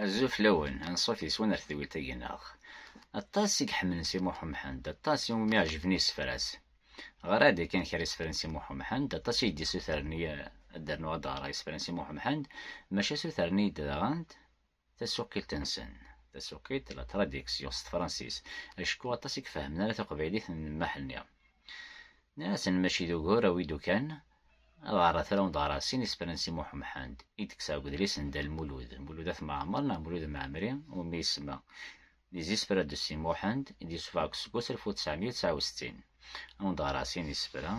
Azul fell-awen, anṣuf yes-wen ar tedwilt-agi neɣ? Aṭas i iḥemmlen Si Muḥ Umḥend, aṭas i wumi ɛejben yisefra-s. Ɣer-aɣ-d yakan kra isefra n Si Muḥ Umḥend, aṭas i yi-d-yessutren-iyi ad d-rnuɣ ad d-ɣreɣ isefra n Si Muḥ Umḥend, maca sutren-iyi-d daɣen tasuqilt-nsen, tasuqilt, la traduction, s tefransis, acku aṭas i ifehmen ara taqbaylit n Maḥ-nni. Nniɣ-asen mačči d ugur, awi-d ukan, Ad ɣer atra ur d-ɣer sin isefra n Si Muḥem Ḥand i d-kkseɣ deg udlis n Dda Lmulud, Mulud At Mɛemmer neɣ Mulud Mɛemri, umi isemma Des isefra de Si Muḥend, i d-yessufeɣ deg useggas alef u tesεemya u tesεa u settin. Ad wen-d-ɣreɣ sin isefra,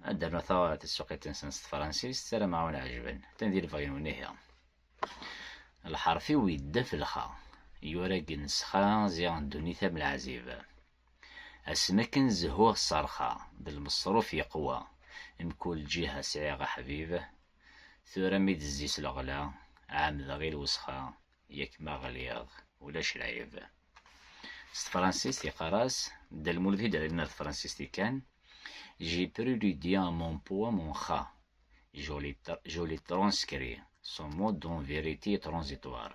ad d-rnuɣ taɣara tasuqilt-nsen s tefransist, ssarameɣ ad wen-ɛejben. Atan di lebɣi-nwen ihi. Lḥerf-iw yeddef lxa, yura gen sxa ziɣ ddunit am leɛzib. Asmi akken zehhuɣ ṣṣerxa d lmeṣruf yeqwa, mkul lǧiha sɛiɣ aḥbib, tura mi d-tezzi s leɣla, ɛemmdeɣ i lwesxa, yak ma ɣliɣ ulac lɛib. S tefransist yeqqar-as Dda Lmulud i d-ara nerr tefransist-ik kan, J'ai pris le dia à mon pot à mon kha, je l'ai transcrit, son mot d'une vérité transitoire.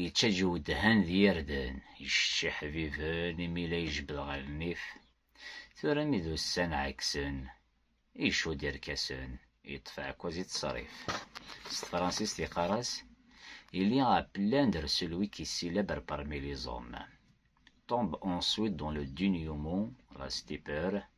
Yettaǧ uwedhan d yirden, iccetc iḥbiben imi la ijebbed ɣer nnif. Tura mi d ussan ɛeksen, icudd irkasen, yeṭṭef aɛekkaz i ttṣerrif. S tefransist yeqqar-as, Il y a à plaindre celui qui célèbre parmi les hommes. Tombe ensuite dans le duniumu, la stupeur,